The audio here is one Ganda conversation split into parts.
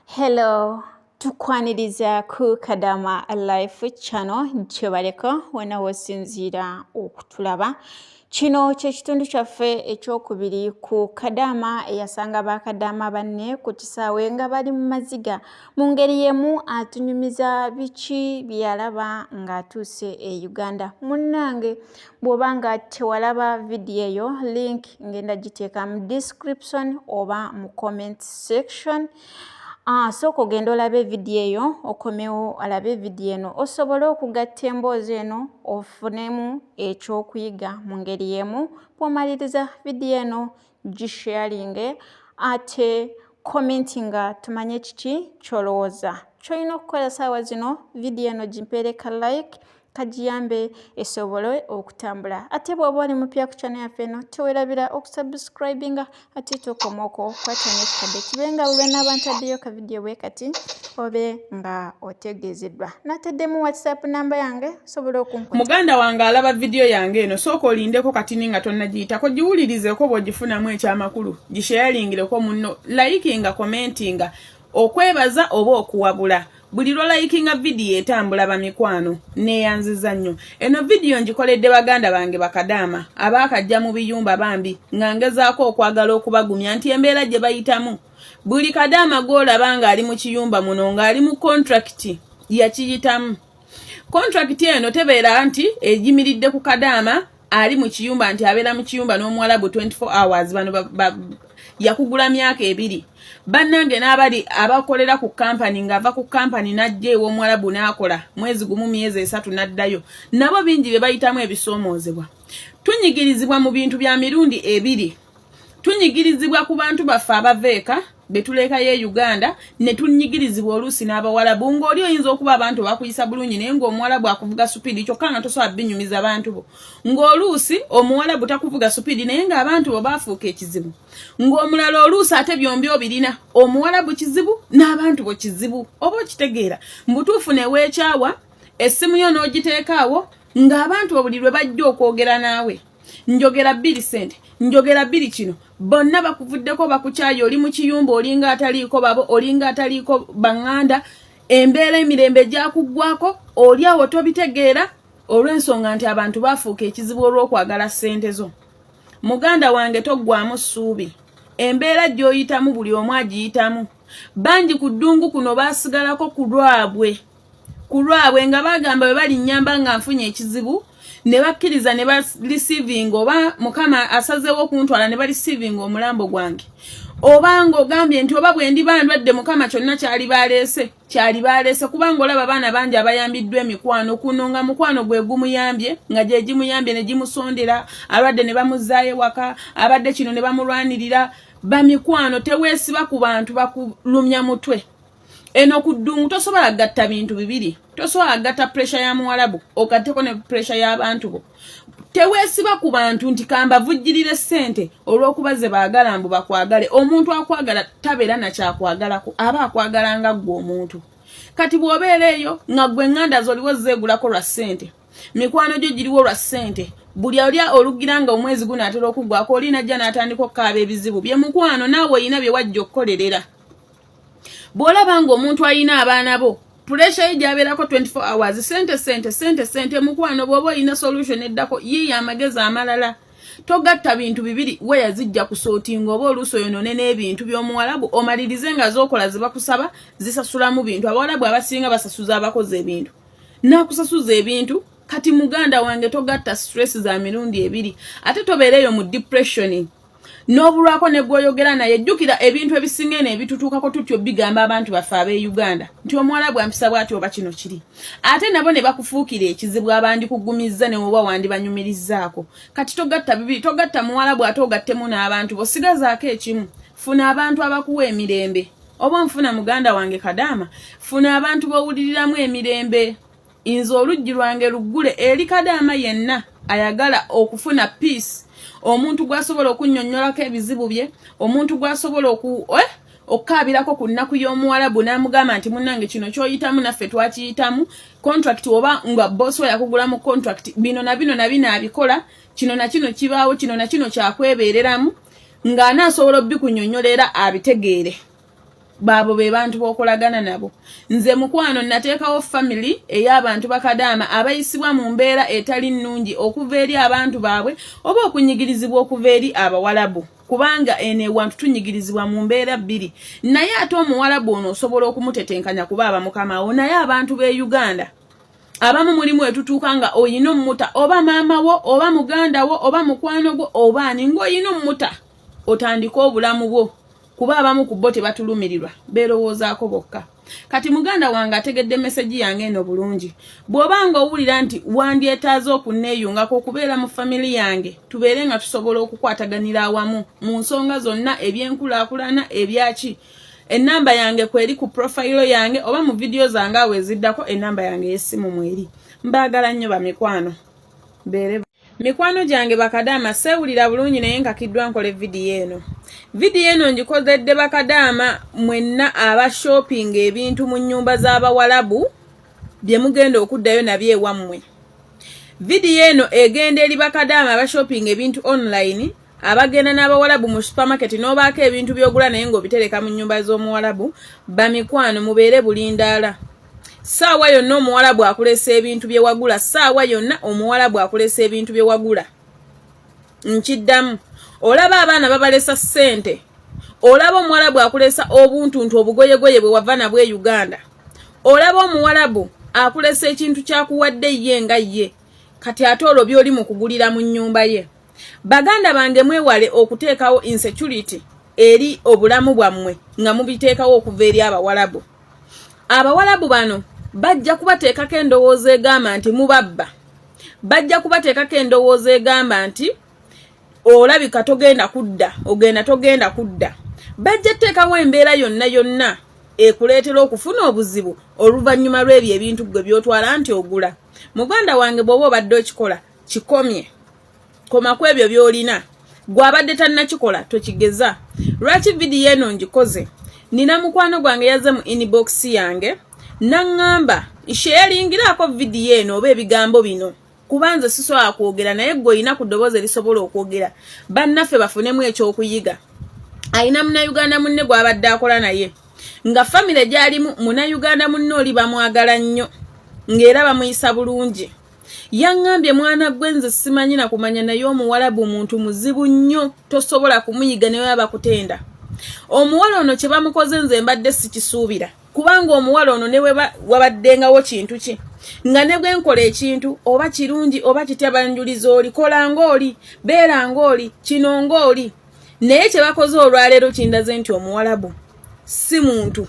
Hello, tukwaniriza ku Kadama Life Channel kyebaleko wena wosinziira okutulaba. Kino kyekitundu kyaffe ekyokubiri ku Kadama eyasanga ba Kadama banne ku kisaawe nga bali mu maziga. Mu ngeri yemu atunyumiza biki byeyalaba ng'atuuse e Uganda. Munnange bw'oba nga tewalaba vidiyo eyo link ngenda giteeka mu description oba mu comment section Ah, sooka ogenda olaba evidiyo eyo okomewo alabe evidiyo eno osobole okugatta emboozi eno ofunemu ekyokuyiga mu ngeri emu bwomaliriza vidiyo eno gisharinge ate commenti nga tumanye kiki kyolowooza kyolina okukola saawa zino vidiyo eno gimpeereka like kagiyambe esobole okutambula ate bw'oba oli mupya ku kyana yaffe eno tewerabira okusubscribinga ate tokomoko kwata nekikadde kibe nga bwe benaaba ntaddeyo ka vidiyo bwe kati obe nga otegeezeddwa nateddemu whatsapp namba yange sobola okunkuta muganda wange alaba vidiyo yange eno sooka olindeko katini nga tonnagiyitako giwulirizeko bw'ogifunamu ekyamakulu gisheyalingireko munno layikinga komentinga okwebaza oba okuwabula buli lwolayikinga vidiyo etambula bamikwano neyanziza nnyo eno vidiyo ngikoledde baganda bange bakadaama abaakajja mu biyumba bambi nga ngezaako okwagala okubagumya nti embeera gye bayitamu buli kadaama gw'olaba ng'ali mu kiyumba muno ng'ali mu kontrakiti yakiyitamu kontrakiti eno tebeera nti egimiridde ku kadaama ali mu kiyumba nti abeera mu kiyumba n'omuwalabu 24 hours bano yakugula myaka ebiri bannange n'abali abakolera ku kampani ng'ava ku kampani n'ajja ew'omuwalabu n'akola mwezi gumu myezi esatu n'addayo nabo bingi bye bayitamu ebisoomoozebwa tunyigirizibwa mu bintu bya mirundi ebiri tunyigirizibwa ku bantu baffe abava eka betuleekayo e uganda ne tunyigirizibwa oluusi n'abawalabu ng'oli oyinza okuba abantu bakuyisa bulungi naye ng'omuwalabu akuvuga supiidi kyokka nga tosobola binyumiza bantu bo ng'oluusi omuwalabu takuvuga supiidi naye ng'abantu bo baafuuka ekizibu ng'omulala oluusi ate byombi obirina omuwalabu kizibu n'abantu bo kizibu oba okitegeera mbutuufu neweekyawa essimu yo n'ogiteekaawo ng'abantu bo buli lwe bajja okwogera naawe njogera bbiri sente njogera bbiri kino bonna bakuvuddeko bakukyayi oli mu kiyumba olinga ataliiko babo olinga ataliiko baŋŋanda embeera emirembe gyakuggwako oli awo tobitegeera olw'ensonga nti abantu baafuuka ekizibu olw'okwagala ssente zo muganda wange toggwamu ssuubi embeera gy'oyitamu buli omu agiyitamu bangi ku ddungu kuno baasigalako ku lwabwe ku lwabwe nga bagamba bwe balinnyamba nga nfunye ekizibu ne bakkiriza ne balisiivinga oba mukama asazeewo okuntwala ne balisiivinga omulambo gwange oba ng'ogambye nti oba bwe ndiba ndwadde mukama kyonna kyali baleese kyali baleese kubanga olaba abaana bangi abayambiddwa emikwano kuno nga mukwano gwe gumuyambye nga gye gimuyambye ne gimusondera alwadde ne bamuzzaayo ewaka abadde kino ne bamulwanirira bamikwano teweesiba ku bantu bakulumya mutwe eno ku ddungu tosobola gatta bintu bibiri tosobola gatta puresha ya muwalabu ogatteko ne puresha y'abantu bo teweesiba ku bantu nti kambavujjirire ssente olw'okuba ze baagala mbu bakwagale omuntu akwagala tabeera nakyakwagalako aba akwagala nga ggwe omuntu kati bw'obeera eyo nga ggwe nganda zoliwo zeegulako lwa ssente mikwano gyo giriwo lwa ssente buli ali olugira nga omwezi gunaatera okuggwako oli najja n'atandika okukaaba ebizibu bye mukwano naawe olina bye wajja okukolerera bwolaba nga omuntu ayina abaana bo pulesha ye gyabeerako 24 hours sente sente sente sente mukwano bwoba olina solution eddako yiiyo amagezi amalala togatta bintu bibiri weya zijja kusootinga oba oluusi oyonone n'ebintu by'omuwalabu omalirize nga zookola zebakusaba zisasulamu bintu abawalabu abasinga basasuza abakozi ebintu nakusasuza ebintu kati muganda wange togatta stress za mirundi ebiri ate tobeereeyo mu depression n'obulwako ne gwoyogera naye jjukira ebintu ebisinga eno ebitutuukako tutyo bigamba abantu baffe ab'e uganda nti omuwalabu ampisa bwati oba kino kiri ate nabo ne bakufuukira ekizibu abandikugumizza ne woba wandibanyumirizzaako kati togatta bibiri togatta muwalabu ate ogattemu n'abantu bosigazaako ekimu funa abantu abakuwa emirembe oba nfuna muganda wange kadaama funa abantu bowuliriramu emirembe inze oluggi lwange luggule eri kadaama yenna ayagala okufuna peace omuntu gwasobola okunnyonnyolako ebizibu bye omuntu gwasobola oku eh? okukaabirako ku nnaku y'omuwalabu n'amugamba nti munnange kino kyoyitamu naffe twakiyitamu contract oba nga bosi we yakugula mu contract bino na bino na bino abikola kino na kino kibaawo kino na kino kyakwebeereramu ng'anaasobola obikunyonyola era abitegeere baabo be bantu b'okolagana nabo nze mukwano nateekawo family ey'abantu bakadaama abayisibwa mu mbeera etali nnungi okuva eri abantu baabwe oba okunyigirizibwa okuva eri abawalabu kubanga eno ewantu tunyigirizibwa mu mbeera bbiri naye ate omuwalabu ono osobola okumutetenkanya kuba aba mukamawo naye abantu b'e uganda abamu mulimu etutuuka nga oyina omumuta oba maama wo oba muganda wo oba mukwano gwo oba ani ng'oyina omumuta otandike obulamu bwo kuba abamu ku bo tebatulumirirwa beerowoozaako bokka kati muganda wange ategedde mesegi yange eno bulungi bw'oba nga owulira nti wandyetaaza okunneeyungako okubeera mu famili yange tubeere nga tusobola okukwataganira awamu mu nsonga zonna ebyenkulaakulana ebyaki ennamba yange kweri ku profayiro yange oba mu vidiyo zange awo eziddako ennamba yange ey'essimu mweri mbaagala nnyo bamikwano beere Mikwano gyange bakadaama seewulira bulungi naye nkakiddwa nkole vidiyo eno. Vidiyo eno ngikozedde bakadaama mwenna aba shopping ebintu mu nnyumba z'Abawalabu bye mugenda okuddayo nabyo ewammwe. Vidiyo eno egenda eri bakadaama aba shopping ebintu online abagenda n'Abawalabu mu supermarket n'obaako ebintu by'ogula naye ng'obitereka mu nnyumba z'Omuwalabu. Bamikwano mubeere bulindaala. saawa yonna omuwala bwakulesa ebintu bye wagula saawa yonna omuwala bwakulesa ebintu bye wagula nkiddamu olaba abaana babalesa ssente olaba omuwalabu akulesa obuntuntu obugoyegoye bwe wava nabwe e uganda olaba omuwalabu akulesa ekintu kyakuwadde ye nga ye kati ate olwo byoli mu kugulira mu nnyumba ye baganda bange mwewale okuteekawo insecurity eri obulamu bwammwe nga mubiteekawo okuva eri abawalabu abawalabu bano bajja kubateekako endowooza egamba nti mubabba bajja kubateekako endowooza egamba nti olabika togenda kudda ogenda togenda kudda bajja teekawo embeera yonna yonna ekuleetera okufuna obuzibu oluvannyuma lw'ebyo ebintu gwe byotwala nti ogula muganda wange bw'oba obadde okikola kikomye koma ku ebyo byolina gwe abadde tannakikola tokigeza lwaki vidiyo eno ngikoze nina mukwano gwange yazze mu inbox yange naŋŋamba isheyalingiraako vidiyo eno oba ebigambo bino kuba nze sisobola kwogera naye gwe olina ku ddoboozi erisobola okwogera bannaffe bafunemu ekyokuyiga alina munauganda munne gwabadde akola naye nga famire gyalimu munauganda munne oli bamwagala nnyo ng'era bamuyisa bulungi yaŋŋambye mwana gwe nze simanyi na kumanya naye omuwalabu muntu muzibu nnyo tosobola kumuyiga naye aba kutenda omuwala ono kye bamukoze nze mbadde sikisuubira kubanga omuwala ono ne wabaddengawo kintu ki nga ne bwe nkola ekintu oba kirungi oba kitya banjuliza oli kola ng'oli beera ng'oli kino ng'oli naye kye bakoze olwaleero kindaze nti omuwalabu si muntu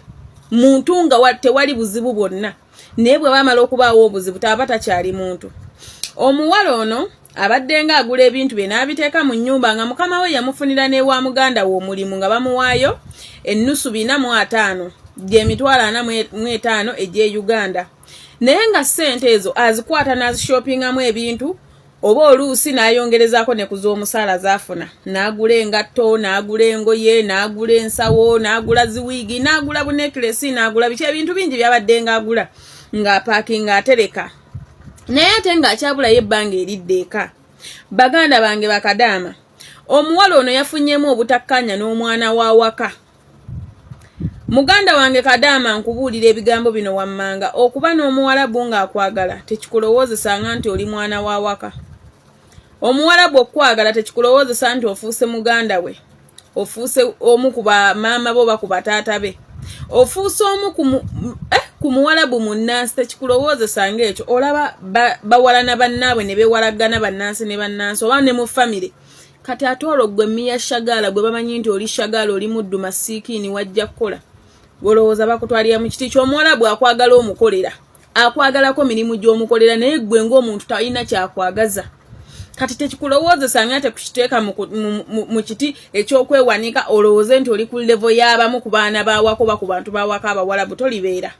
muntu nga tewali buzibu bwonna naye bwe bamala okubaawo obuzibu taba takyali muntu omuwala ono abaddenga agula ebintu bye n'abiteeka mu nnyumba nga mukama we yamufunira n'ewa muganda we omulimu nga bamuwaayo ennusu bina mu ataano gy'emitwalo ana mu etaano egy'e uganda naye nga ssente ezo azikwata n'azishoppingamu ebintu oba oluusi n'ayongerezaako ne ku z'omusaala zaafuna n'agula engatto n'agula engoye n'agula ensawo n'agula ziwiigi n'agula bunekiresi n'agula biki ebintu bingi byabadde ng'agula ng'apaakinga atereka naye ate ng'akyabulayo ebbanga eridde eka baganda bange bakadaama omuwala ono yafunyemu obutakkaanya n'omwana w'awaka muganda wange kadaama nkubuulira ebigambo bino wammanga okuba n'omuwalabu ng'akwagala tekikulowoozesanga nti oli mwana wa waka omuwalabu okukwagala tekikulowoozesa nti ofuuse muganda we ofuuse omu ku bamaama bo oba ku bataata be ofuuse omu ku eh, muwalabu munnansi tekikulowoozesa ng'ekyo olaba bawalana bannaabwe ne beewalaggana bannansi ne bannansi oba ne mu famire kati ate olwo gwe miya shagaala gwe bamanyi nti oli shagaala oli muddu masiikiini wajja kukola olowooza bakutwalira mu kiti ky'omuwalabu akwagala omukolera akwagalako mirimu gy'omukolera naye gwe ng'omuntu talina kyakwagaza kati tekikulowoozesa nga tekukiteeka mu kiti eky'okwewanika olowooze nti oli ku levo y'abamu ku baana bawako ba ku bantu bawako abawalabu tolibeera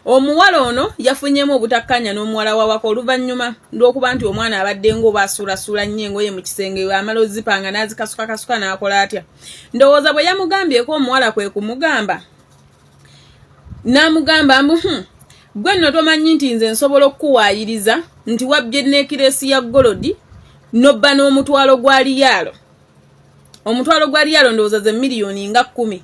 omuwala ono yafunyemu obutakkanya n'omuwala wawaka oluvannyuma lw'okuba nti omwana abadde ng'oba asuulasuula nnyo engoye mu kisenge amala ozipanga n'azikasukakasuka n'akola atya ndowooza bwe yamugambyeko omuwala kwe kumugamba n'amugamba mbu hmm, gwe nno tomanyi nti nze nsobola okukuwaayiriza nti wabbye neekiresi ya golodi nobba n'omutwalo gwa liyaalo omutwalo gwa liyaalo ndowooza ze miliyoni nga kkumi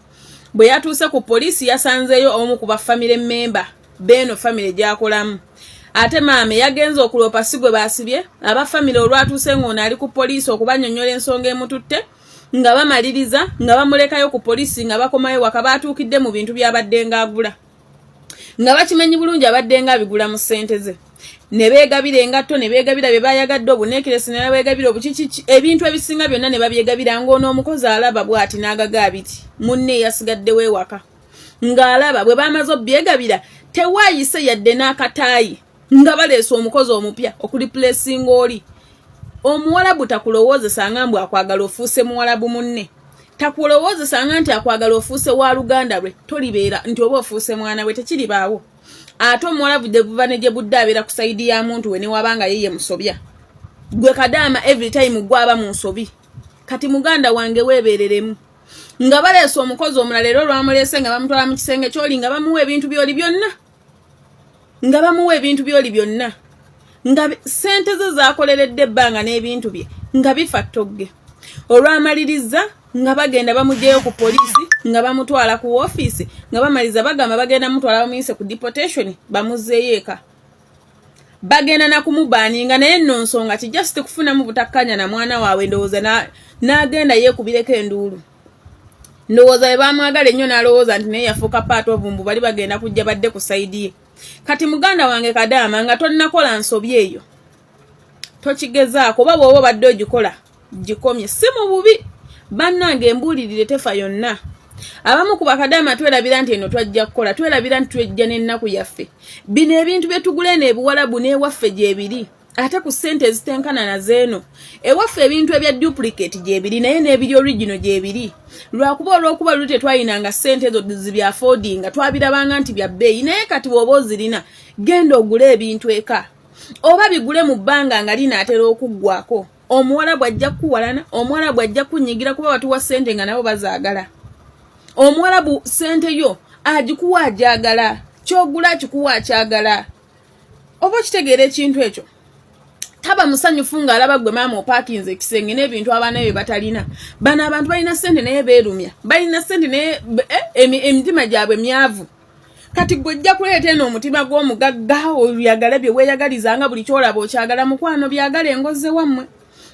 bwe yatuuse ku poliisi yasanzeeyo omu ku bafamire mmemba beeno famire gyakolamu ate maame yagenze okuloopa si gwe baasibye aba famire olwatuuse ng'ono ali ku poliisi okubanyonyola ensonga emututte nga bamaliriza nga bamulekayo ku poliisi nga bakomayo waka baatuukidde mu bintu byabadde ng'agula nga bakimanyi bulungi abaddenga abigula mu ssente ze ne beegabira engatto ne beegabira bye baayagadde obuneekeresi ne babeegabira obukiki ebintu ebisinga byonna ne babyegabira ng'ono omukozi alaba bw'ati n'agaga abiti munne eyasigaddewo ewaka ng'alaba bwe baamaze obyegabira tewaayise yadde n'akataayi nga baleese omukozi omupya okuli pulesinga oli omuwalabu takulowoozesa nga mbw akwagala ofuuse muwalabu munne takulowoozesa nga nti akwagala ofuuse wa luganda lwe tolibeera nti oba ofuuse mwana we tekiribaawo ate omuwalabu gyebuva ne gye budde abeera ku sayidi ya muntu we newaba nga yeye musobya gwe kadaama every time gwaba mu nsobi kati muganda wange weebereremu nga baleese omukozi omulala era olwamuleese nga bamutwala mu kisenge kyoli nga bamuwa ebintu byoli byonna nga bamuwa ebintu byoli byonna nga sente ze zakoleredde ebbanga n'ebintu bye nga bifa ttogge olwamalirizza nga bagenda bamugyeyo ku poliisi nga bamutwala ku woofiisi nga bamaliza bagamba bagenda mutwala bamuyise ku deportation bamuzzeeyo eka bagenda nakumubaninga naye nno nsonga ki just kufunamu butakkanya na mwana waabwe ndowooza n'agenda yeekubireko enduulu ndowooza bwe bamwagala ennyo n'alowooza nti naye yafuuka paati obumbu bali bagenda kujja badde ku sayidi ye kati muganda wange kadaama nga tonnakola nsobi eyo tokigezaako oba bw'oba obadde ogikola gikomye si mu bubi bannange embuulirire tefa yonna abamu ku bakadaama twerabira nti eno twajja kukola twerabira nti twejja n'ennaku yaffe bino ebintu bye tugula eno ebiwalabu n'ewaffe gyebiri ate ku sente ezitenkana na zeeno ewaffe ebintu ebya duplicate gyebiri naye n'ebiri original gyebiri lwakuba olwokuba luli tetwayinanga sente ezo zibyafodinga twabirabanga nti bya bbeeyi naye kati bwoba ozirina genda ogule ebintu eka oba bigule mu bbanga nga linaatera okuggwako omuwala bwajja kukuwalana omuwala bwajja kunyigira kuba batuwa sente nga nabo bazaagala omuwala bu sente yo agikuwa agyagala kyogula akikuwa akyagala oba okitegeera ekintu ekyo taba musanyufu ng'alaba gwe maama opakinze ekisenge n'ebintu abaana bye batalina bano abantu balina sente naye beerumya balina sente naye eh, emitima gyabwe myavu kati gwe ojja kuleeta eno omutima gw'omugagga oyagala bye weeyagaliza nga buli kyolaba okyagala mukwano byagala engoze wammwe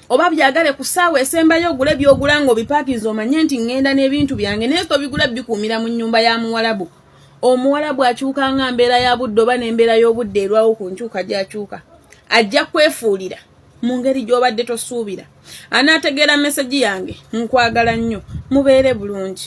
oba byagale ku ssaawa esembayo ogule byogula ng'obipakinze omanye nti ŋŋenda n'ebintu byange naye tobigula bikuumira mu nnyumba ya muwalabu omuwala bw'akyuka nga mbeera ya budde oba n'embeera y'obudde erwawo ku nkyuka gy'akyuka ajja kwefuulira mu ngeri gy'obadde tosuubira anaategeera mesegi yange nkwagala nnyo mubeere bulungi